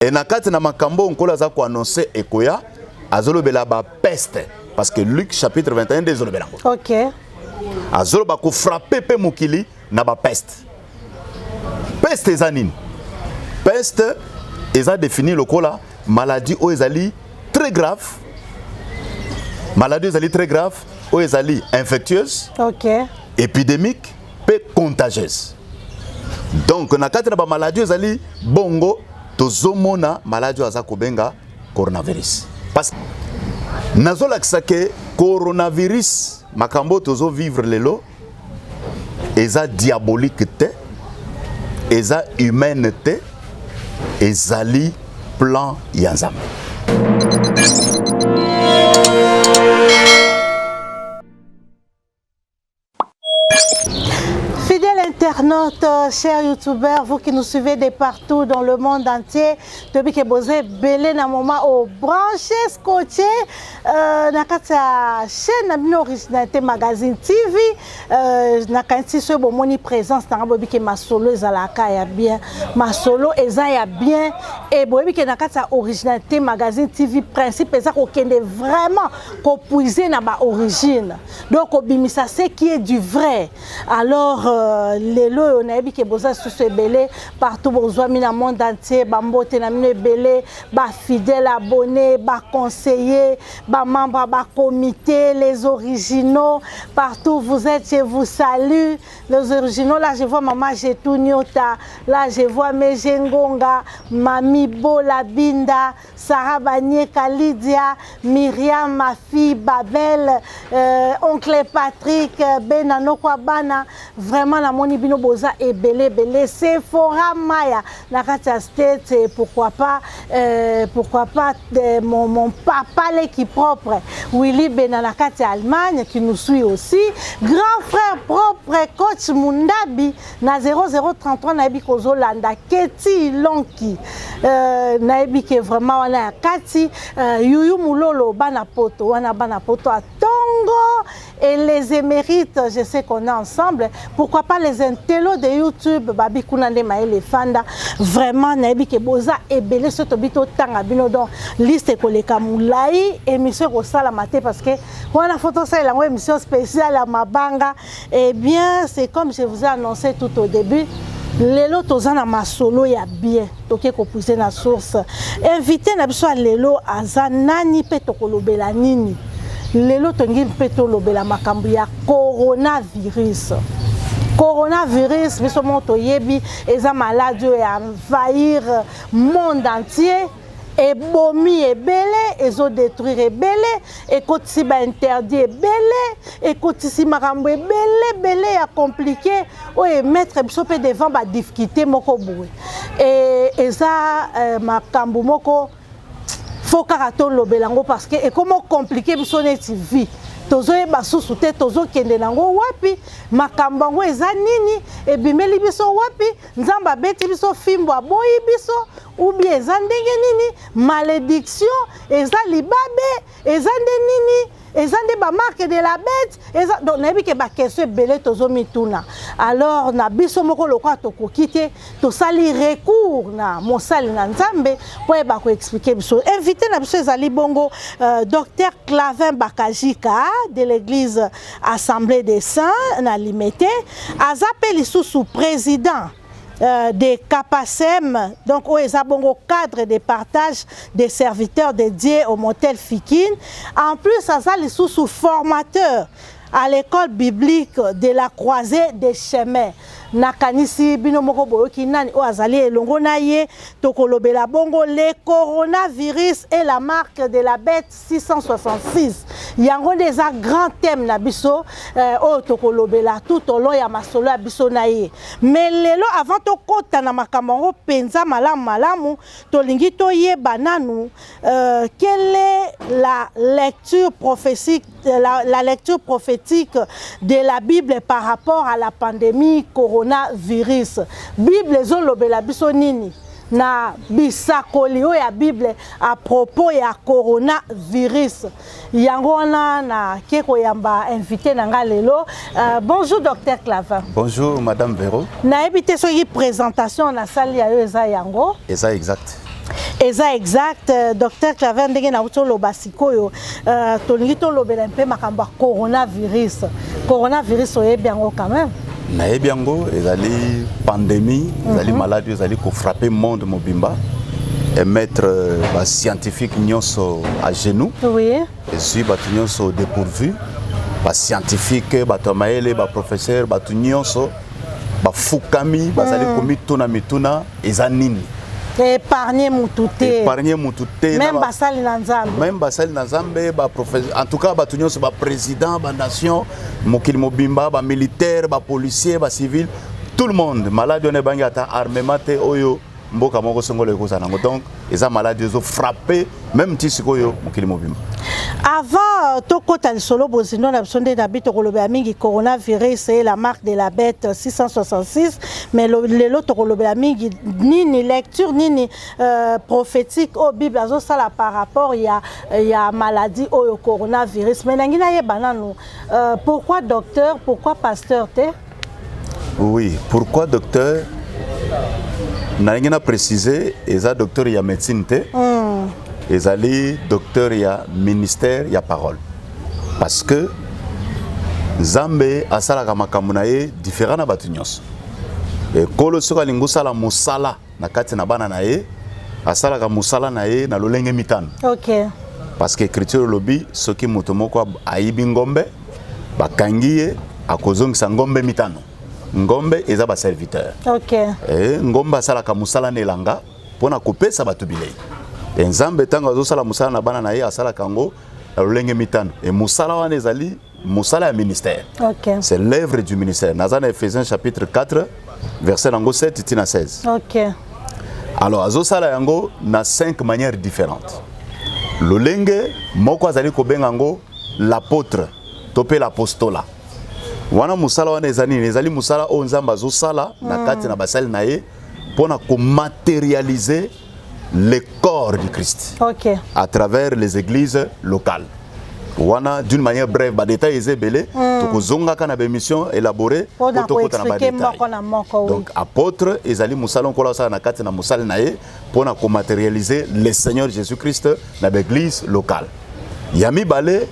e na kati na makambo oyo nkolo aza koannonce ekoya azolobela bapeste parce que luc chapitre 21 nde ezolobela yango okay. azoloba kofrape mpe mokili na bapeste peste eza nini peste eza défini lokola maladie oyo ezali très grave maladie oyo ezali très grave oyo ezali infectieuse okay. épidémique mpe contagieuse donc na kati na bamaladi ezali bongo tozomona maladi oyo aza kobenga coronavirus parce nazolakisa ke coronavirus makambo oyo tozovivre lelo eza diabolique te eza humaine te ezali plan ya nzambe Fidèles internautes, chers youtubeurs, vous qui nous suivez de partout dans le monde entier, depuis que vous êtes belé na moment au branché, scotché, euh, na katia chaîne na bino originalité magazine TV, euh, na kanti ce bon moni présence na bobi que ma solo ezalaka ya bien, ma solo eza ya bien et bobi que na katia originalité magazine TV principe eza ko kende vraiment ko puiser na ba origine. donc kobimisa ce qui est du vrai alors euh, lelo oyo nayebi ke boza lisusu ebele partout bozwami na monde entier bambote na bino ebele bafidèle abonné baconseiller bamembre ya bacomité les originaux partout vous êtes je vous salue les originaux là je vois mama jetu nyota là je vois meje ngonga mami bola binda Sarah Banyeka, Lydia, Myriam, ma fille, Babel, euh, oncle Patrick, euh, Bena Nokwa Bana, vraiment na moni bino boza ebele ebele. Sephora Maya, na kati ya state, euh, pourquoi pas, euh, pourquoi pas de, mon, mon papa leki propre, Willy Bena na kati ya Allemagne qui nous suit aussi, grand frère propre, coach Mundabi na 0033 nayebi kozolanda keti lonki euh, nayebi ke vraiment wana ya kati euh, yuyu mulolo bana poto wana bana poto atongo et les émérites je sais qu'on est ensemble pourquoi pas les intellos de youtube babi kuna nde mayele efanda vraiment nayebi ke boza ebele soki tobi totanga bino donc liste ekoleka molai émission ekosalama te parce que wana fo tosalela yango émission spéciale ya mabanga Eh bien, c'est comme je vous ai annoncé tout au début, lelo toza na masolo ya bien toke kopuise na source invité na biso ya lelo aza nani mpe tokolobela nini lelo tongi mpe tolobela makambo ya coronavirus coronavirus biso moko toyebi eza maladi oyo ya envahir monde entier ebomi ebele ezo detruire ebele ekotisi ba interdit ebele ekotisi makambo ebele ebele ya compliqué oyo emettre biso mpe devant ba difficulté moko boye e, eza eh, makambo moko fo kaka tolobela yango parce que ekoma compliqué biso neti vie tozoyeba susu te tozokende nango wapi makambo yango eza nini ebimeli biso wapi nzambe abeti biso fimbo aboyi biso ou bien eza ndenge nini malediction eza libabe eza nde nini eza nde bamarke de la bete eza donc nayebi ke bakestion ebele tozomituna alors na biso moko lokola tokoki te tosali recours na mosali na nzambe mpo ayeba koexplike biso invité na biso ezali bongo euh, docteur clavin bakajika de l'église assemblée des saints na limete aza mpe lisusu président Euh, des capacem donc oyo eza bongo cadre de partage des serviteurs dédiés au motel fikin en plus aza lisusu formateur à l'école biblique de la croisée des chemins nakanisi bino moko boyoki nani oyo azali elongo na ye tokolobela bongo le coronavirus et la marque de la bête 666 yango nde eza grand thème na biso euh, oyo tokolobela tout au long ya masolo ya biso na ye mais lelo avant tokɔta na makambo yango mpenza malamu malamu tolingi toyeba nanu euh, quelle est la lecture prophétique euh, la, la lecture prophétique de la bible par rapport à la pandémie coronavirus bible ezolobela biso nini na bisakoli oyo ya bible à propos ya coronavirus yango wana nake koyamba invité na ngai lelo uh, bonjour docteur clavin bonjour madame vero nayebi te soki présentation nasali ya yo eza yango eza exact eza exact euh, docteur claver ndenge nauti oloba sikoyo Euh, tolingi tolobela mpe makambo ya coronavirus coronavirus oyebi yango quand même nayebi yango ezali pandémie ezali mhm. maladi oyo ezali kofrappe monde mobimba emettre euh, bascientifique nyonso à genoux oui. ezwi bato nyonso dépourvu bascientifique bato ya mayele baprofesseur bato nyonso bafukami bazali hmm. komituna mituna eza nini épargner mutu te épargner mutu te même basali na nzambe même basali na nzambe ba professeur en tout cas bato nyonso ba président ba nation mokili mobimba ba militaire ba policier ba civil tout le monde maladi wana ebangi ata armement te oyo mboka moko songolo ekozala nango donc eza maladi ezo frappe meme ti sikoyo mokili mobimba avant tokɔta lisolo bozindo na biso nde na bi tokolobela mingi coronavirus e la marque de la bête 666 mais lelo tokolobela mingi nini lecture nini euh, prophétique oyo bible azosala par rapport ya, ya maladie oyo coronavirus mais nangi nayeba nanu euh, pourquoi docteur pourquoi pasteur te Oui, pourquoi docteur nalingi na préciser eza docteur ya médecine te mm. ezali docteur ya ministère ya parole parce que nzambe asalaka makambo na ye différent na bato nyonso ekolo soki alingi osala mosala na kati na bana na ye asalaka mosala na ye na lolenge mitano okay. parce que écriture elobi soki moto moko ayibi ngombe bakangi ye akozongisa ngombe mitano ngombe eza baserviteur okay. e, ngombe asalaka mosala na elanga mpo na kopesa bato bilei e, nzambe ntango azosala mosala na bana na ye asalaka yango na lolenge mitano e, mosala wana ezali mosala ya ministère okay. c'est l'œuvre du ministère naza na ephésiens chapitre 4 verset nango 7 ti na 16 okay. alors azosala yango na 5 manières différentes lolenge moko azali kobenga yango l'apôtre to mpe l'apostola wana mosala wana eza nini ezali mosala oyo nzambe azosala na hmm. kati na basali na ye mpo na komaterialize le corps du Christ okay. à travers les églises locales. wana d'une manière brève badetail eza ebele mm. tokozongaka na baémission élaboré po tokota na badetaildonc apôtre ezali mosala nkola osala na kati na mosali na ye mpo na komaterialiser le seigneur jésus christ na baeglise locale ya mibale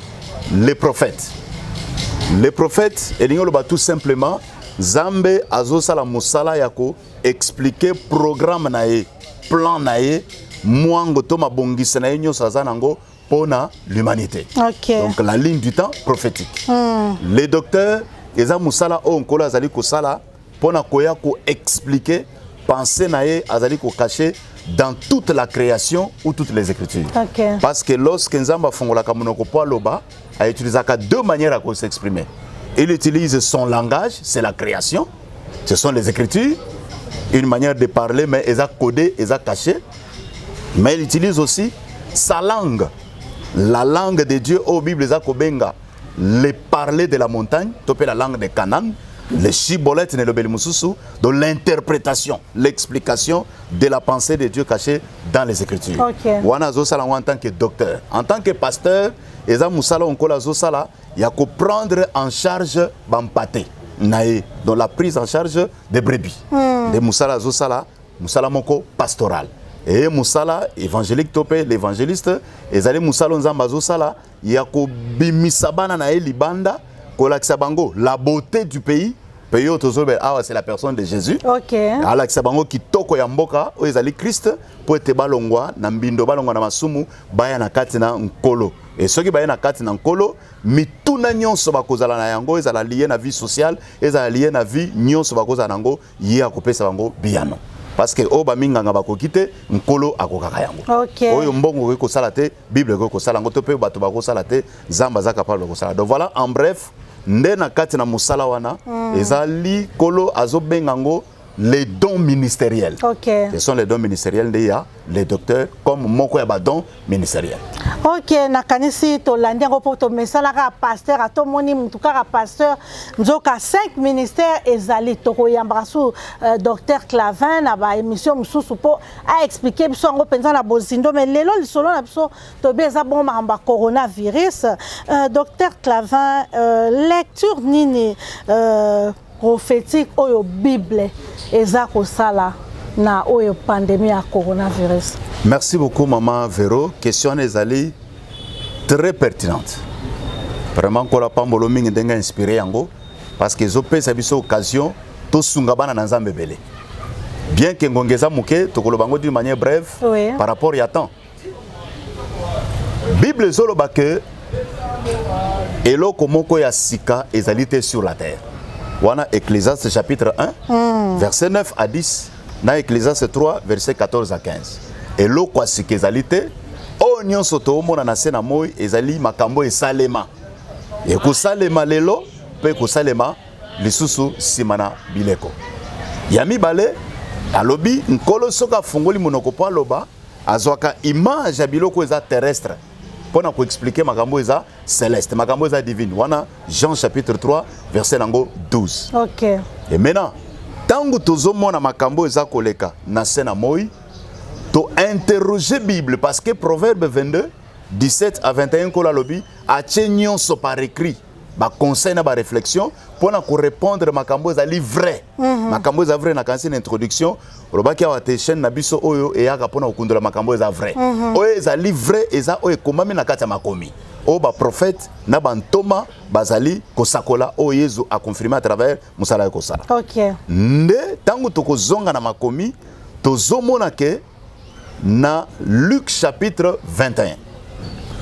le prophète le prophète elingi oloba tout simplement nzambe azosala mosala ya expliquer programme na ye plan na ye mwango to mabongisi na ye nyonso aza nango mpo na l'humanité okay. donc la ligne du temps prophétique mm. le docteur eza mosala oyo nkolo azali kosala mpo na koya koexplike pensée na ye azali kokache dans toute la création ou toutes les écritures okay. parce que lorsque nzambe afungolaka monoko mpo aloba autilisaka deux manières ya kosexprimer il utilise son langage c'est la création ce sont les écritures une manière de parler mais eza codé eza caché mais il utilise aussi sa langue la langue de Dieu au Bible eza kobenga le parler de la montagne to pe la langue de Canaan le shibolette ne lobeli mususu de l'interprétation l'explication de la pensée de Dieu cachée dans les écritures okay. wana azosala yango en tant que docteur en tant que pasteur eza mosala onkola azosala ya ko prendre en charge ba mpate na ye dans la prise en charge des brebis hmm. nde mosala azosala mosala moko pastoral eye mosala évangélique to mpe l'évangéliste ezali mosala oyo nzambe azosala ya kobimisa bana na ye libanda kolakisa bango la beauté du pays mpe yo tozolobela awa c'est la personne de jésus okay. alakisa bango kitoko ya mboka oyo ezali krist mpo ete balongwa na mbindo balongwa na masumu baya na kati na nkolo Et soki baye na kati na nkolo mituna nyonso bakozala na yango ezala liye na vie sociale ezala liye na vie nyonso bakozala na yango ye akopesa bango biyano parce que oyo baminganga bakoki te nkolo akokaka yango okay. oyo mbongo okoki kosala te bible ekoki kosala yango to mpe bato bakosala te nzambe aza capable ya kosala donc voilà en bref nde na kati na mosala wana mm. ezali nkolo azobenga yango les dons ministériels. Ok. Ce sont les dons ministériels nde ya le docteur comme moko ya ba dons ministériels. Ok, nakanisi tolandi yango mpo tomesalaka pasteur atomoni motu kaka pasteur nzoka 5 ministère ezali tokoyambaka su euh, docteur Clavin na ba émission mosusu mpo aexplike biso yango mpenza na bozindo mais lelo lisolo na biso toyebi eza bongo makambo ya coronavirus. Euh, docteur Clavin, euh, lecture nini euh, prophetique oyo bible eza kosala na oyo pandemie ya coronavirus? Merci beaucoup maman Vero, question wana ezali très pertinente. Vraiment nkola pambolo mingi ndenge inspiré yango parce que ezopesa biso occasion tosunga bana na Nzambe ebele. Bien que ngonga eza moke tokoloba yango d'une manière brève oui. par rapport ya temps. Bible ezoloba que eloko moko ya sika ezali te sur la terre wana ecclesiaste chapitre 1 mm. verset 9 à 10 na ecclesiaste 3 verset 14 à 15 eloko ya sika ezali te oyo nyonso toomona na se na moi ezali makambo esalema ekosalema lelo mpe ekosalema lisusu nsima na bileko ya mibale alobi nkolo soki afungoli monoko mpo aloba azwaka image ya biloko eza terrestre mpo na koexplike makambo eza celeste makambo eza divine wana jean chapitre 3 verset nango 12 okay. e maintenant ntango tozomona makambo eza koleka na se na moi to interroger bible parce que proverbe 22 17 à 21 nkolo alobi atie nyonso par écrit ba conseil na ba réflexion pona ko répondre makambo ezali vrai mhm. makambo eza vrai na kanisi na introduction olobaki awa te chaîne na biso oyo eyaka pona kokundola makambo eza vrai mhm. oyo ezali vrai eza oyo ekomami na kati ya makomi oyo baprofete na bantoma bazali kosakola oyo yezu akonfirme à travers mosala ya kosala okay. nde ntango tokozonga na makomi tozomona ke na Luc chapitre 21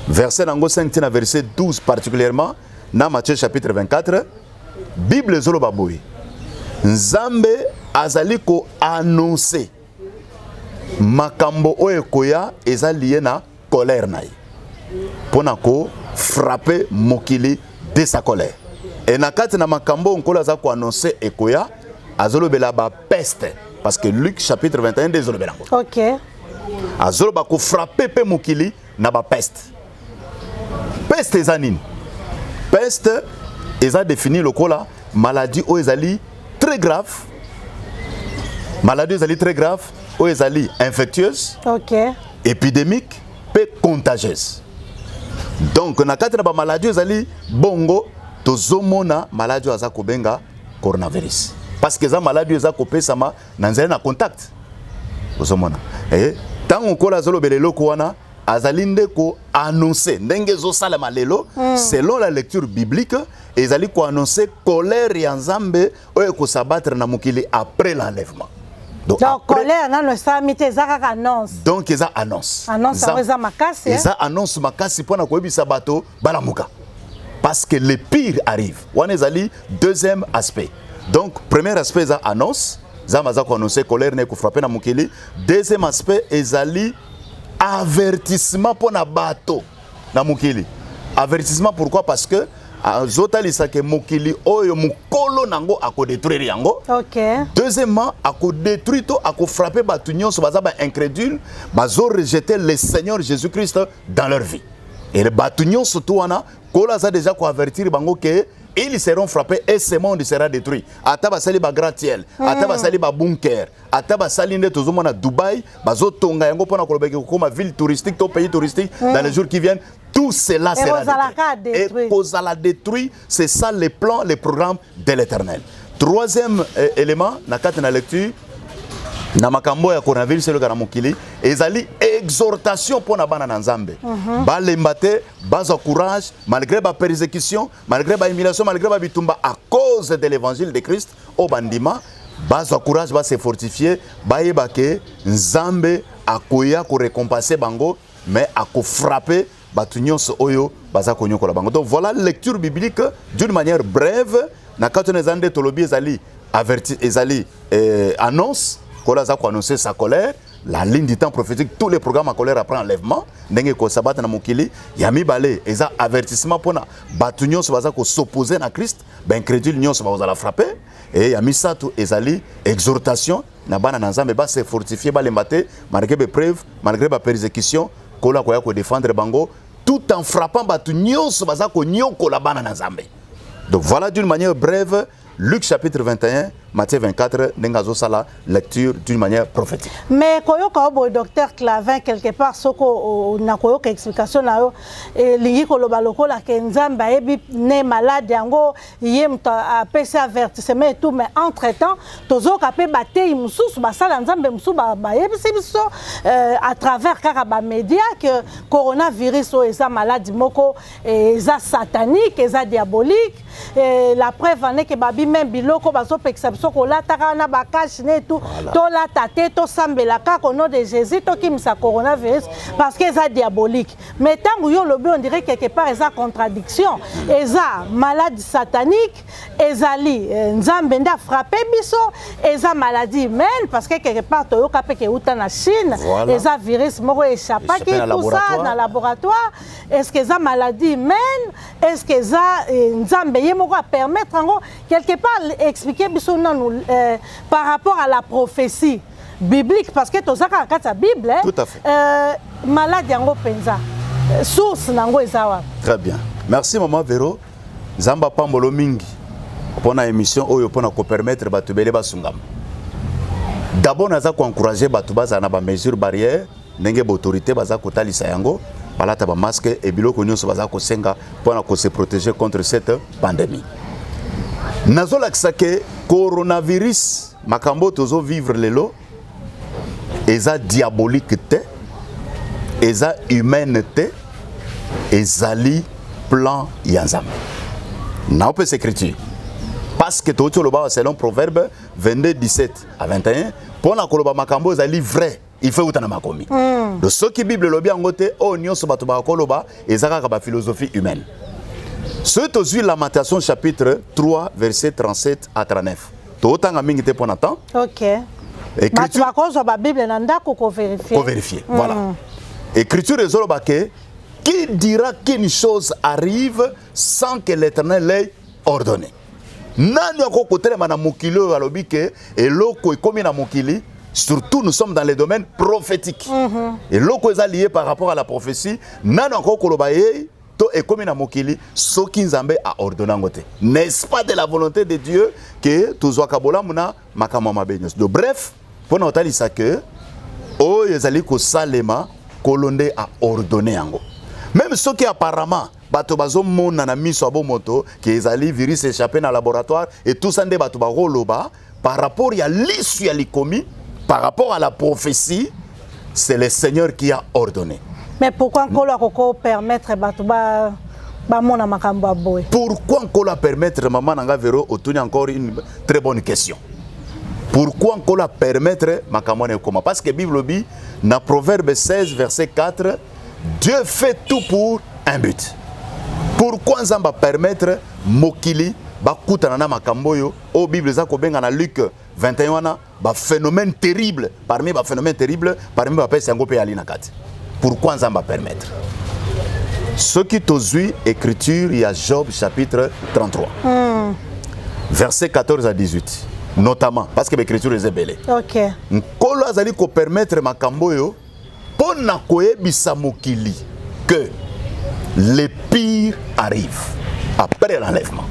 verset nango 5 tina verset 12 particulièrement na Matthieu chapitre 24 Bible ezoloba boye Nzambe azali ko annoncer makambo oyo ekoya eza liye na colère na ye mpo na kofrape mokili de sa colère e na kati na makambo oyo nkolo aza koannonce ekoya azolobela bapeste parce que luc chapitre 21 nde ezolobela yango okay. azoloba kofrape mpe mokili na bapeste peste eza nini peste eza défini lokola maladie oyo ezali très grave maladie oyo ezali très grave oyo ezali infectieuse okay. epidemique mpe contagieuse donc na kati na bamaladi ezali bongo tozomona maladi oyo aza kobenga coronavirus parce que eza maladi oyo eza kopesama na nzela na contact ozomona eh, ntango nkola azolobela eloko wana azali nde koannonce ndenge ezosalema lelo hmm. selon la lecture biblique ezali koannonce colère ya nzambe oyo eko s'abattre na mokili après l'enlèvement donc, donc après... colère nano esalami te eza kaka annonce donc eza annonce annonce yango eza makasi eza eh? annonce makasi mpo na koyebisa bato balamuka parce que le pire arrive wana ezali deuxième aspect donc premier aspect eza annonce zamba aza koannonce colère na ekofrape na mokili deuxième aspect ezali avertissement mpo na bato na mokili avertissement pourquoi parce que azotalisa ke mokili oyo mokolo nango akodétruire yango okay. deuxièmement akodétruire to akofrappe bato nyonso baza baincrédule bazorejete le seigneur jésus christ dans leur vie e bato nyonso to wana kolo aza déjà koavertir bango ke ils seront frappés et ce monde sera détruit ata basali bagratiel ata hmm. basali babunker ata basali nde tozomona dubai bazotonga yango mpona koloba eke kokoma ville touristique to pays touristique mm. dans les jours qui viennent tout cela ekozala détruit c'est ça les plans les programmes de l'éternel troisième euh, élément na kati na lecture na makambo ya coronavirus eleka na mokili ezali exhortation mpo na bana na nzambe mm -hmm. balemba te bazwa courage malgré bapersécution malgré bahumiliation malgré babitumba à cause de l'évangile de christ Oyo bandima bazwa courage ba se fortifier bayeba ke Nzambe akoya ko récompenser bango mais ako frapper bato nyonso oyo baza konyokola bango. Donc voilà lecture biblique d'une manière brève na kati wana eza nde tolobi ezali averti ezali eh, annonce kola aza koannonce sa colère la ligne du temps prophétique tous les programmes à colère après enlèvement ndenge ekosabata na mokili ya mibale eza avertissement mpona bato nyonso baza kosopose na christ ba incredule nyonso bakozala frappe e ya misato ezali exhortation na bana na nzambe ba se fortifie balemba te malgré bepreuve malgré bapersecution nkolo akoya kodefendre bango tout en frappant bato nyonso baza konyokola bana na nzambe donc voilà d'une manière brève luc chapitre 21 Matthieu 24 ndenge azosala lecture d'une manière prophétique mais koyoka yo boye docteur clavin quelque part soko na koyoka explication na yo elingi koloba lokola ke nzambe ayebi ne malade yango ye moto apesi avertissement et tout mais entre temps tozoyoka mpe bateyi mosusu basala nzambe mosusu bayebisi biso euh, à travers kaka bamédia que coronavirus oyo eza maladi moko eza satanique eza diabolique Et la preuve en est que babi même biloko bazo pekisa biso kolata kaka na ba cash ne tout voilà. tolata te tosambela kaka au nom de Jésus tokimisa coronavirus parce que eza diabolique mais ntango yo olobi on dirait quelque part eza contradiction eza malade satanique ezali eh, nzambe nde afrappe biso eza maladie humaine parce que quelque part toyoka mpe keuta na Chine voilà. eza virus moko echapaki tout ça na laboratoire est-ce que eza maladie humaine est ce que eza eh, nzambe ye moko apermettre yango quelque part expliquer biso nanu eh, par rapport à la prophétie biblique parce que toza kaka kati ya bible eh. Tout à fait. Euh, malade yango mpenza eh, source na yango eza wapi très bien merci maman vero nzambe apambolo mingi mpo na émission oyo mpo na kopermettre bato ebele basungama d'abord naza koencourage bato bazala na bamesure barrière ndenge b'autorité baza kotalisa yango balata bamaske e biloko nyonso baza kosenga mpo na kose protéger contre cette pandémie nazolakisa ke coronavirus makambo tozo vivre lelo eza diabolique te eza humaine te ezali plan ya nzambe naopesa écriture parce que touti oloba selon proverbe 22 17 à 21 mpo na koloba makambo ezali vrai il faut euta na makomi mm. donc soki bible elobi yango te oyo nyonso bato bakoloba eza kaka baphilosophie humaine soki tozwi lamentation chapitre 3 verset 37 à 39 tootanga mingi te mpo na temps okay. bato bakozwa babible na ndako koverifie koverifie mm. voilà écriture ezoloba ke qui dira qu'une chose arrive sans que l'éternel l'ait ordonné Nani akoki kotelema na mokili oyo alobi ke eloko ekomi na mokili surtout nous sommes dans les domaines prophétiques mm -hmm. eloko eza lié par rapport à la prophétie nani akoki koloba yei to ekomi na mokili soki nzambe aordonne yango te n'est-ce pas de la volonté de dieu ke tozwaka bolamu na makambo ya mabe nyonso do bref mpo na kotalisa ke oyo ezali kosalema nkolo nde aordonne yango meme soki apparemment Bato bazomona na miso ya bomoto ke ezali virus echappe na laboratoire et tout ça nde bato bakoloba par rapport ya lisu ya likomi par rapport à la prophétie c'est le Seigneur qui a ordonné. Mais pourquoi Nkolo akoko permettre bato ba bamona makambo ya boye? Pourquoi Nkolo a permettre maman na nga Vero otuni encore une très bonne question. Pourquoi Nkolo a permettre makambo na ekoma? Parce que Bible lobi na Proverbe 16 verset 4 Dieu fait tout pour un but. Pourquoi Nzambe a permettre mokili bakutana na makambo oyo oyo bible eza kobenga na luc 21 wana baphénomène terrible parmi baphénomène terrible parmi bapesi yango mpe yali na kati pourquoi nzambe apermettre soki tozwi écriture ya job chapitre 33 mm. verset 14 à 18 notamment parce que baécriture eza ebele okay. nkolo azali kopermettre makambo oyo Mpo na koyebisa mokili que le pire arrive après l'enlèvement.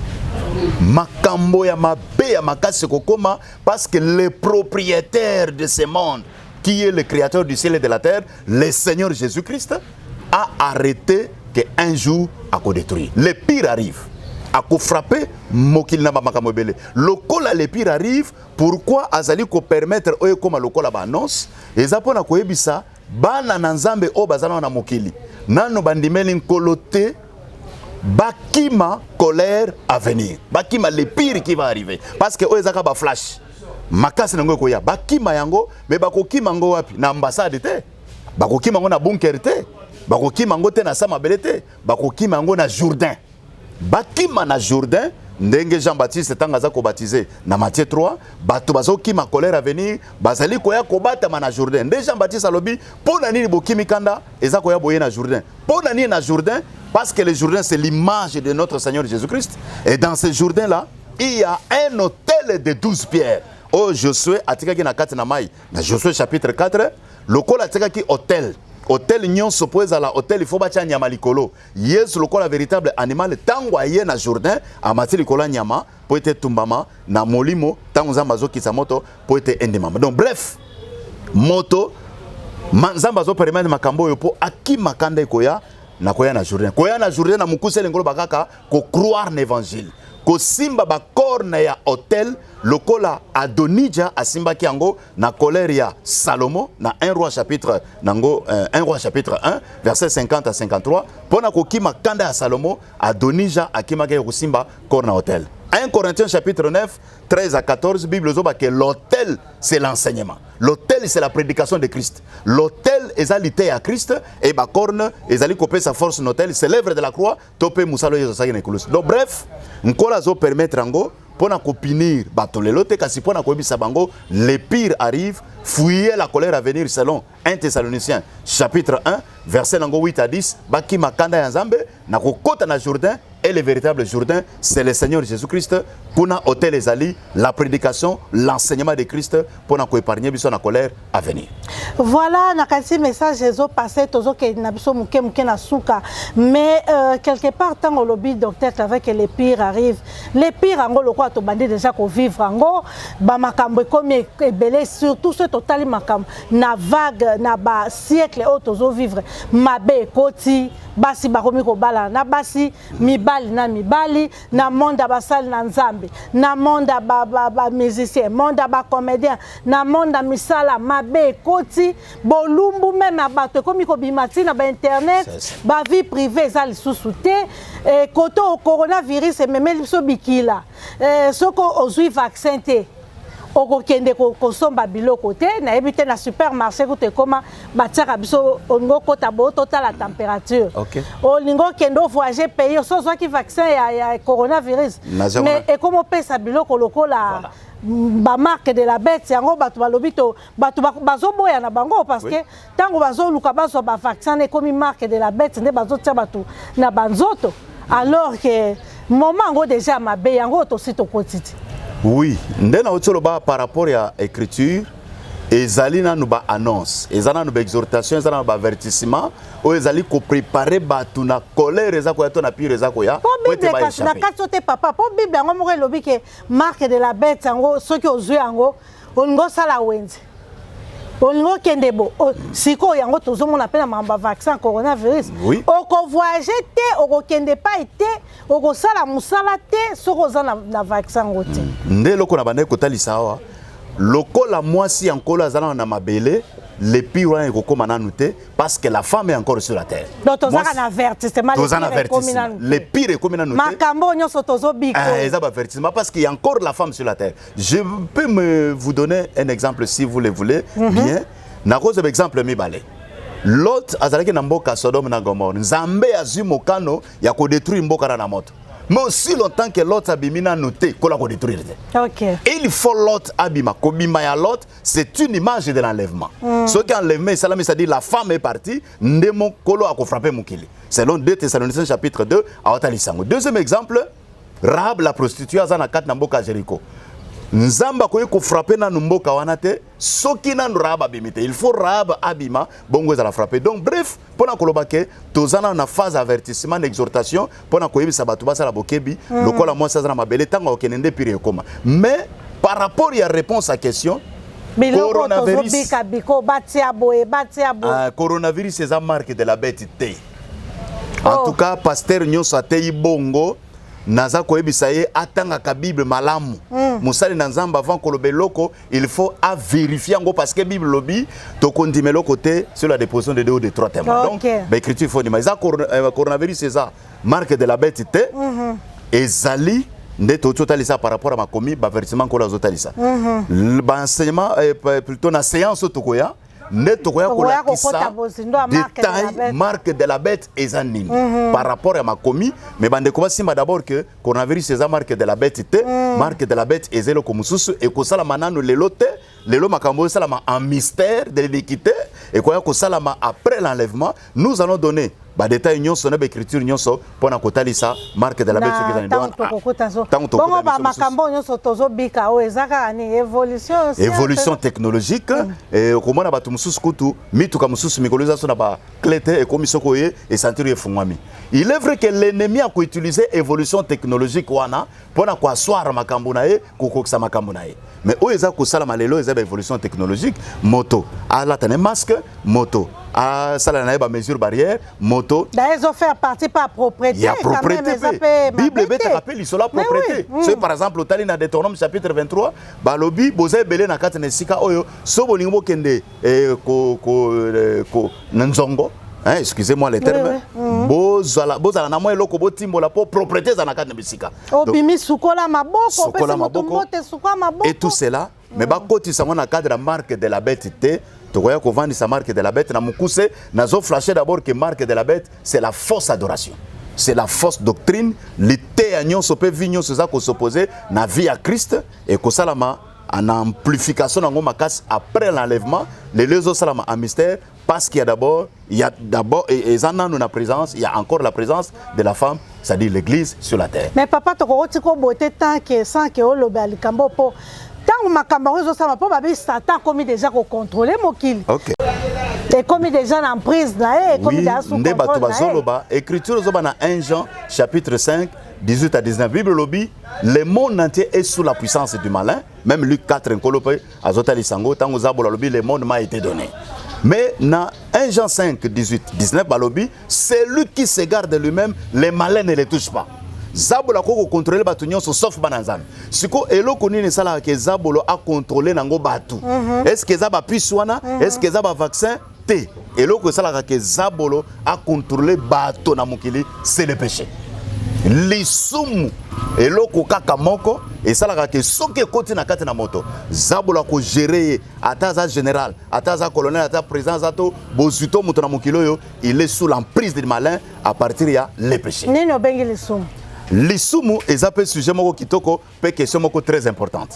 Makambo ya mabe ya makasi kokoma parce que le propriétaire de ce monde qui est le créateur du ciel et de la terre, le Seigneur Jésus-Christ, a arrêté qu'un jour à détruire. Le pire arrive. À frapper, mokil na makambo ebele. Lokola le pire arrive, Pourquoi azali ko permettre oyo ekoma lokola ba annonce eza pona koyebisa bana na Nzambe oyo bazana na mokili nano bandimeli nkolo te bakima colère à venir bakima le pire qui va arriver parce que oyo ezaka ba flash makasi na yango ekoya bakima yango me bakokima yango wapi na ambassade te bakokima yango na bunker te bakokima yango te na sa mabele te bakokima yango na jourdain bakima na jourdain ndenge jean baptiste ntango aza kobatize na matie 3 bato bazokima colère avenir bazali koya kobatama na jourdain nde jean baptiste alobi mpo na nini bokimi kanda eza koya boye na jourdain mpo na nini na jourdain parce que le jourdain c'est l'image de notre seigneur jésus christ et dans ce jourdain là il y a un hôtel de 12 pierres oyo oh, josue atikaki na kati na mai na josue chapitre 4 lokola atikaki hôtel hôtel nyonso mpo ezala hôtel il faut batya nyama likolo Yesu lokola veritable animal ntango aye na Jourdain amati likolo ya nyama mpo ete etumbama na molimo ntango Nzambe azokisa moto mpo ete endimama. Donc bref, moto ma, Nzambe azoperemete makambo oyo mpo akima kanda ekoya na koya na Jourdain. Koya na Jourdain na mokuse elengoloba kaka ko croire na evangile, kosimba bacorne ya hotel Lokola Adonija asimbaki yango na colère ya Salomo na 1 roi chapitre nango 1 euh, roi chapitre 1 verset 50 à 53 pona kokima kanda ya Salomo Adonija akimaki ya kosimba corps na hôtel. 1 Corinthiens chapitre 9 13 à 14 Bible zoba que l'hôtel c'est l'enseignement. L'hôtel c'est la prédication de Christ. L'hôtel ezali te ya Christ et ba corne ezali kopesa force notel c'est l'œuvre de la croix to mpe mosala oyo Yesu asalaki na ekulusu. Donc bref, Nkolo azo permettre yango mpo na kopinir bato lelo te, kasi mpo na koyebisa bango le pire arrive, fuyez la colère à venir selon 1 Thessaloniciens chapitre 1 verset nango 8 à 10, bakima kanda ya Nzambe na kokota na Jourdain et le véritable Jourdain, c'est le Seigneur Jésus-Christ. Kuna hôtel ezali la prédication, l'enseignement de Christ mpo na koépargner biso na colère avenir voilà nakanisi message ezo passe tozokende na biso moke moke na suka mais euh, quelque part ntango olobi docteur clave que le pire arrive le pire yango lokola tobandi déjà kovivre yango bamakambo ekomi ebele surtout soki totali makambo na vague na basiècle oyo tozovivre mabe ekoti basi bakomi kobalana na basi mibali na mibali na monde ya basali na nzambe na monde ya bamusicien monde ya bacomédien na monde ya misala mabe ekoti bolumbu meme ya bato ekomi kobima ntina bainternet bavie privé eza lisusu te eh, kote oyo coronavirus ememeli biso bikila eh, soki ozwi vaccin te okokende kosomba biloko te nayebi te na supermarché kutu ekoma batiaka biso olingi okota boyo totala température olingi okende ovoyage pays oso ozwaki vaccin ya, ya coronavirus mais ekoma opesa biloko lokola ba marque de la bête yango bato balobi to bato bazoboya na bango parce que ntango bazoluka bazwa ba vaccin na ekomi marque de la bête nde bazotia bato na banzoto alors que moment yango déjà mabe yango tosi tokoti te oui nde nauti oloba par rapport ya écriture ezali nanu baannonce eza nanu baexhortation eza nanu baavertissement oyo ezali koprepare bato na colère eza koya to na pire eza koya po bible kasi na kati ote papa po bible yango moko elobi ke marque de la bête yango soki ozwi yango olingi osala wenze olingi okende bo sikoyo yango tozomona mpe na makambo ya vaccin coronavirus oui. okovoyage te okokende epai te okosala mosala te soki oza na, na vaccin yango te mm. nde eloko na bandaki kotalisa awa lokola mwasi ya nkolo azalaka na mabele lepi wana ekokóma nanu te parce que la femme est encore sur la terre. Donc tozaka na avertissement tozana avertissement. Le pire ekomi na note. Makambo nyoso tozo biko. Eh eza ba avertissement parce qu'il y a encore la femme sur la terre. Je peux me vous donner un exemple si vous le voulez mm -hmm. bien. Na cause exemple mibale. Lot azalaki na mboka Sodome na Gomorrhe. Nzambe azui mokano ya ko détruire mboka na moto. mais aussi longtemps que lot abimi nanu te kola kodétruire te okay. il faut lot abima kobima ya lot c'est une image de l'enlèvement mm. soki enlèvement esalami c'est-à-dire la femme est partie nde mokolo akofrappe mokili selon 2 thessaloniciens chapitre 2 awatalisa yango deuxième exemple rahab la prostitue aza na kati na mboka jericho nzambe akoki kofrappe nanu mboka wana te soki nanu rahab abimi te il faut rahab abima bongo ezala frappe donc bref mpo na koloba ke toza nanu na phase avertissement na exhortation mpo na koyebisa bato basala bokebi mm. lokola mwasi aza na mabele ntango akokende nde pire ekoma mais par rapport ya réponse à question biloko tozobika biko batia boye batia boye ah, coronavirus eza marque de la bête te oh. en tout cas pasteur nyonso ateyi bongo naza koyebisa ye atangaka bible malamu mm. mosali na nzambe avant koloba eloko il faut à vérifier en gros parce que Bible lobby to condimé le côté sur la déposition de deux ou de trois témoins. Donc l'écriture faut dire mais ça euh, coronavirus c'est ça marque de la bête té mhm. et zali nde tozotalisa par rapport ya makomi bavertissement nkolo azotalisa mhm. baenseignement euh, plutôt na séance oyo tokoya nde tokoya kolakisa detail marque de la bête eza nini mm -hmm. par rapport ya makomi mais bandeko basimba d'abord que coronavirus eza marque de la bête te mm. marque de la bête eza eloko mosusu ekosalama nano lelo te lelo makambo oyo esalama en mystère de l'iniquité ekoya kosalama après l'enlèvement Nous allons donner ba détails nyonso na ba écriture nyonso mpo na kotalisa marque de la bête soki ezali ndoana ntango tokobongo ba makambo nyonso tozobika oyo eza kaka nini évolution évolution technologique mm. eh, okomona bato mosusu kutu mituka mosusu mikolo eza so na ba cle te ekomi soki oye esantiri efungwami il est vrai que l'ennemi akoutilize évolution technologique wana mpo na koaswara makambo na ye kokokisa makambo na ye mais oyo eza kosalama lelo eza ba évolution technologique moto alata na masque moto asala na ye bamesure barrière moto ezofaire partie pa propreté ya propreté mpe bible ebetaka mpe lisolo ya propreté hmm. soki par exemple otali na deuteronome chapitre 23 balobi boza ebele na kati na esika oyo so bolingi bokende eh, ko, ko, eh, ko, na nzongo hein, excusez-moi le terme oui, oui. Mm. bozala bozala na mwa eloko botimbola mpo propreté eza na kati na bisika obimi sukola maboko sukola maboko et tout cela mm. mais bakotisa yango na cadre ya marque de la bête te tokoya kovandisa marque de la bête na mokuse nazo flashe d'abord que marque de la bête c'est la fausse adoration c'est la fausse doctrine liteya nyonso mpe vi nyonso eza kosopose na vie ya christ ekosalama en amplification nango makasi après l'enlèvement lelo ezosalama a mystère parce qu'il y a d'abord il y a d'abord eza nanu na présence il y a encore la présence de la femme c'est-à-dire l'église sur la terre mais papa tokoki tika obote tant que sans que oloba likambo po ntango makambo yango ezosala mpo babi satan akomi deja kokontrole mokili okay. ekomi deja na emprise na ye ekomi oui, nde bato bazoloba écriture ezoba na 1 jean chapitre 5 18 à 19 bible elobi le monde entier est sous la puissance du malin même luc 4 nkolo mpe azotalisa yango ntango zabola alobi le monde m'a été donné mais na 1 jean 5 18 19 balobi celui qui se garde lui-même le malin ne le touche pas zabolo akoki kokontrole bato nyonso sauf bana nzambe sikoyo eloko nini esalaka ke zabolo akontrole nango bato mm -hmm. estce eza bapise wana mm -hmm. estce eza bavaccin te eloko esalaka ke zabolo akontrole bato na mokili se le péché lisumu eloko kaka moko esalaka te soki ekoti na kati na moto zabolo akogere ye ata aza général ata aza colonel ata président aza to bozwi to moto na mokili oyo il est sous l'emprise du malin à partir ya le péché nini obengi lisumu lisumu eza mpe sujet moko kitoko Pe question moko très importante.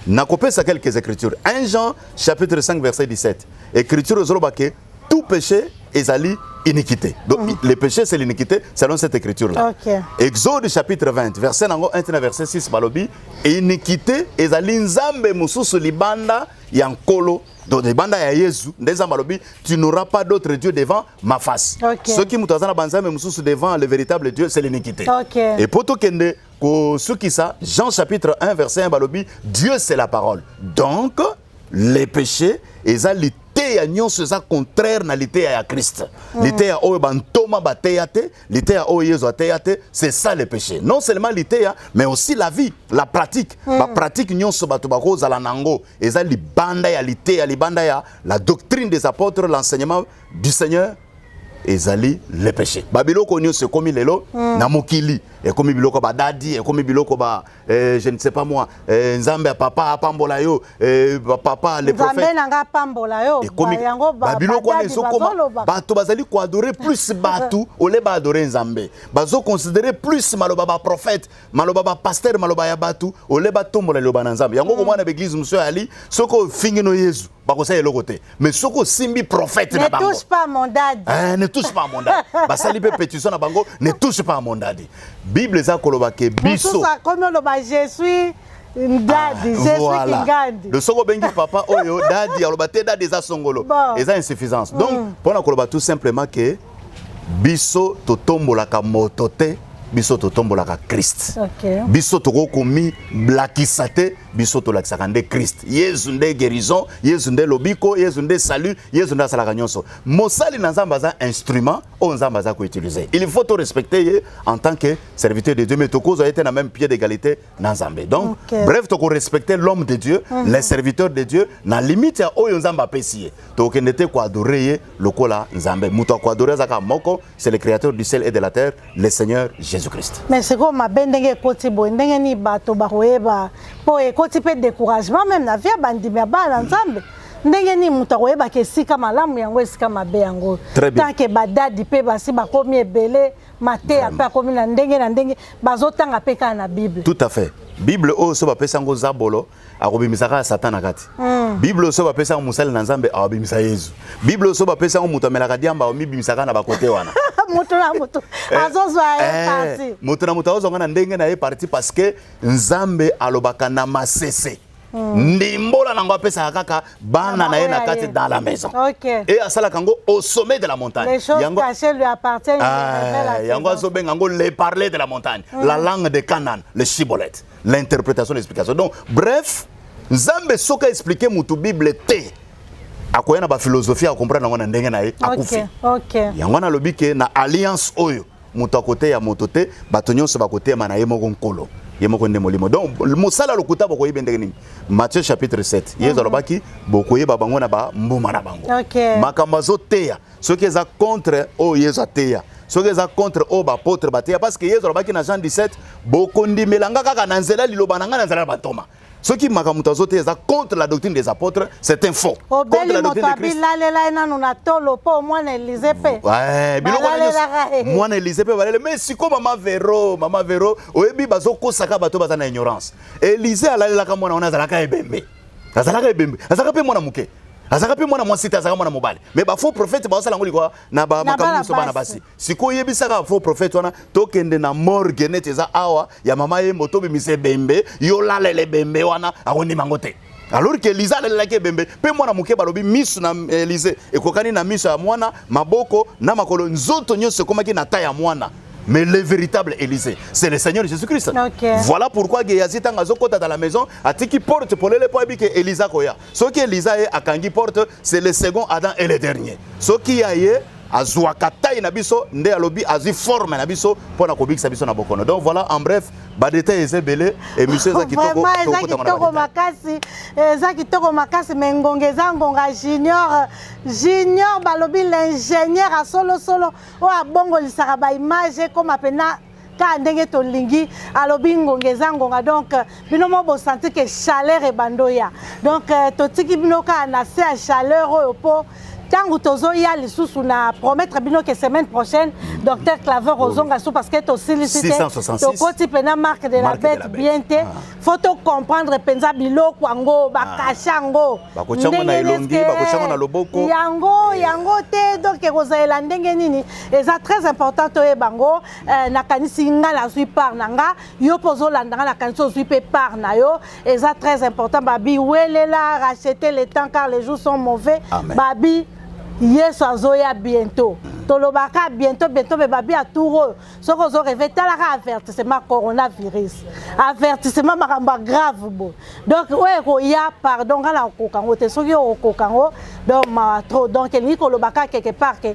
Nakopesa quelques écritures. 1 Jean chapitre 5 verset 17. Écriture ezoloba que tout péché ezali iniquité. Donc mm -hmm. le péché c'est l'iniquité selon cette écriture là. Okay. Exode chapitre 20 verset nango 1 tina verset 6 balobi iniquité ezali nzambe mususu libanda ya nkolo donc libanda ya yesu nde nzambe alobi tu n'auras pas d'autre dieu devant ma face okay. soki moto aza na banzambe mosusu devant le véritable dieu c'est l'iniquité okay. et mpo tokende kosukisa Jean chapitre 1 verset 1 balobi Dieu c'est la parole donc les péchés eza liteya nyonso eza contraire na liteya ya Christ mm. liteya oyo bantoma bateya te liteya oyo Yesu ateya te c'est ça le péché non seulement liteya mais aussi la vie la pratique mm. ba pratique nyonso bato bakozala nango eza libanda ya liteya libanda ya la doctrine des apôtres l'enseignement du Seigneur ezali le péché babiloko nyonso ekomi lelo mm. na mokili ekomi biloko badadi ekomi biloko ba eh, je ne sais pas moi eh, nzambe ya papa apambola yo eh, papa le prophète na nga apambola yo ekomi babiloko wana ezokoma bato bazali koadore plus bato ole baadore nzambe bazoconsidere plus maloba baprophète maloba ba pasteur maloba ya batu ole batombola liloba na nzambe yango okomona na baeglise mosusu ya ali soki ofingi no yezu bakosala eloko te mais soki osimbi prophète na bango eh, ne touche pas mondadi basali mpe petition na bango ne touche pas mondadi bible eza koloba ke biso akomi oloba je suis ndadi ah, voilà. de soki obengi papa oyo dadi aloba te dadi eza songolo bon. eza insuffisance donc mpo mm. na koloba tout simplement ke biso totombolaka moto te biso totombolaka krist okay. biso tokoki komiblakisa te biso tolakisaka nde krist yezu nde guérison yezu nde lobiko yezu nde salut yezu nde asalaka nyonso mosali na nzambe aza instrument oyo nzambe aza koutilize il faut torespecte ye en tant que serviteur de dieu mais tokozwa ye te na même pied d'égalité na nzambe donc okay. bref tokorespecte l'homme de dieu mm -hmm. le serviteur de dieu na limite ya oyo nzambe apesi ye tokokende te koadore ye lokola nzambe moto ya koadore azaka moko c'est le créateur du ciel et de la terre le seigneur jésus christ mais sikoyo mabe ndenge ekoti boye ndenge nini bato bakoyeba mpo ekoti mpe découragement meme na vie ya bandimi ya bana na nzambe mm -hmm. ndenge nini moto akoyebaka esika malamu yango esika mabe yango tanke badadi mpe basi bakomi ebele mateya mpe akomi na ndenge na ndenge bazotanga mpe kaka na bible tout à fait bible oyo so bapesa yango zabolo akobimisa kaka satan na kati mm. bible oyo so bapesa yango mosali na nzambe akobimisa yezu bible oyo so bapesa yango moto amelaka diamba akomibimisa kaka na bakote wana moto na moto eh, azozwa ye eh, parti moto na moto azozwa nga na ndenge na ye parti parce que nzambe alobaka na masese Hmm. ndimbola nango apesaka kaka bana na ye na kati dans la maison e asalaka yango au sommet de la montagne yango ah, azobenga yango le parler de la montagne hmm. la langue de canaan le chibolete l'interprétation l'explication donc bref nzambe soki aexplike motu bible te akoya na baphilosophie akomprendre yango na ndenge na ye akufi yango nalobi ke na alliance oyo moto akoteya moto te bato nyonso bakoteyama na ye moko nkolo ye moko nde molimo donc mosala ya lokuta bokoyeba ndenge nini matthieu chapitre 7 yesu mhm. alobaki bokoyeba bango na bambuma na bango makambo azoteya soki eza contre oyo yesu ateya soki eza contre oyo bapotre bateya parce que yesu alobaki na jean 17 bokondimela nga kaka na nzela liloba na ngai na nzela ya bantoma soki makambo moto azo te eza contre la doctrine des apôtres c'est un faux obeli moto abilalela ye nanu na tolo mpo mwana elize mpe mwana elize mpe balele mais siko mama vero mama vero oyebi bazokosaka bato baza na ignorance elize alalelaka mwana wana azalaka ebembe azalaka ebembe azalaka mpe mwana moke azalaka mpe mwana mwasi te azalaka mwana mobali mais bafaux prophète baosala yango likwa na bamakambo nyonso bana basi sikoyo yebisaka faux prophète wana tokende na morgue neti eza awa ya mama yembo tobimisa ebembe yo lalela ebembe wana akondima yango te alors que Elisa alelelaki ebembe mpe mwana moke balobi miso na Elise ekokani na miso ya mwana maboko na makolo nzoto nyonso ekomaki na ta ya mwana mais le véritable Élysée, c'est le Seigneur Jésus-Christ. Okay. Voilà pourquoi Gehazi tanga azokota dans la maison, atiki porte polele po abi que Elisa koya. soki eliza ye akangi porte c'est le second adam et le dernier soki ya ye azwaka tai na biso nde alobi azwi forme na biso mpo na kobikisa biso na bokono donc voilà en bref badetail eza ebele émission eza kitoko eza kitoko makasi eza kitoko makasi me ngonga eza ngonga junior junior balobi l'ingénieur ya solosolo oyo abongolisaka baimage ekoma mpena ka ndenge tolingi alobi ngonga eza ngonga donc bino mo bosanti ke chaleur ebandoya donc euh, totiki bino kaka na se ya chaleur oyo mpo ntango tozoya lisusu na promettre bino ke semaine prochaine docteur claver oh ozonga su parce que tosilisi te tokoti mpena marque de la bête bien te ah. fo tocomprendre mpenza biloko yango bakasha ah. yango yango yango te donc ekozalela ndenge nini eza très important toyeba yango eh, nakanisi ngai nazwi part na nga yo mpe ozolanda ngai nakanisi ozwi mpe part na yo eza très important babi welela rachete le temps car les jours sont mauvais Amen. babi yesu azoya bientôt tolobaka bientôt bientôt me babi ya tour oyo soki ozo reve talaka avertissement coronavirus avertissement makambo ya grave bo donc oyo ekoya pardon ngai nakokoka yango te soki okokoka yango donc mawa trop donc elingi kolobaka quelque part ke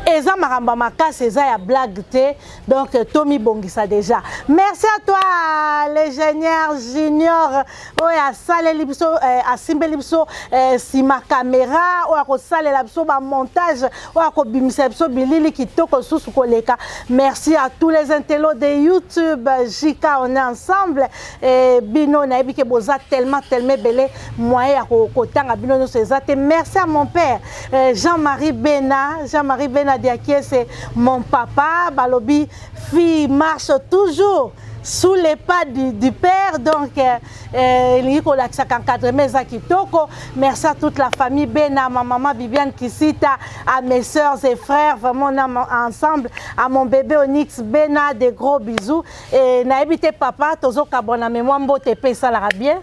eza makambo makasi eza ya blague te donc euh, tomibongisa déjà merci à toi l'ingénieur junior oyo asaleli biso euh, asimbeli biso euh, nsima caméra oyo akosalela biso bamontage oyo akobimisa biso bilili kitoko lisusu koleka merci à tous les intellos de youtube jk on est ensemble et bino nayebi ke boza tellement tellement ebele moyen ya kotanga bino nyonso eza te merci à mon père Eh, Jean-Marie Bena, Jean-Marie Bena Diakiese, mon papa, Balobi, fille marche toujours sous les pas du, du père donc euh, euh, elingi kolakisaka encadrement eza kitoko merci à toute la famille bena ma maman bibiane kisita à mes soeurs et frères vraiment on a ensemble à mon bébé onyx bena des gros bisous et nayebi te papa tozokabwana mais mwa mbote mpe esalaka bien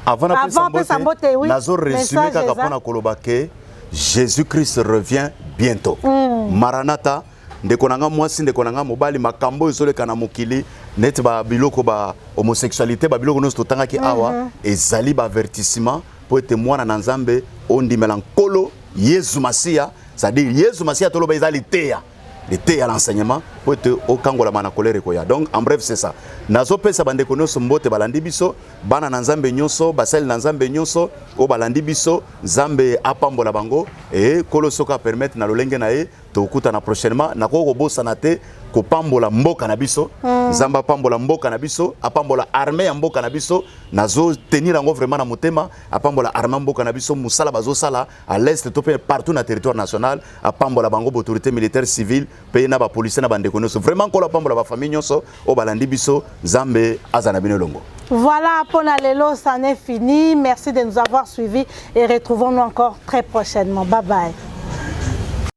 Avant na pesa mbote, mbote oui, nazo resume kaka pona koloba que Jésus-Christ revient bientôt. Mm. Maranatha ndeko na nga mwasi ndeko na nga mobali makambo ezoleka na mokili neti ba biloko ba homosexualité ba biloko nyonso totangaki mm -hmm. awa mhm. ezali ba avertissement mpo ete mwana na Nzambe ondimela nkolo Yesu Masiya c'est-à-dire Yesu Masiya toloba eza liteya liteya l'enseignement mpo ete okangolama na kolere koya donc en bref c'est ça nazopesa bandeko nyonso mbote balandi biso bana na nzambe nyonso basali na nzambe nyonso oyo balandi biso nzambe apambola bango e kolo soki apermettre na lolenge na ye tokutana prochainement nakoki kobosana te kopambola mboka na biso hmm. nzambe apambola mboka na biso apambola arme ya mboka na biso nazotenir yango vraiment na motema apambola arme ya mboka na biso mosala bazosala à l'est to mpe partout na territoire national apambola bango baautorité militaire civile mpe na bapolisier na bandeko nyonso vraiment nkolo apambola bafamille nyonso oyo balandi biso nzambe aza na bino elongo Voilà, pour la Lelo, ça en est fini. Merci de nous avoir suivis et retrouvons-nous encore très prochainement. Bye bye.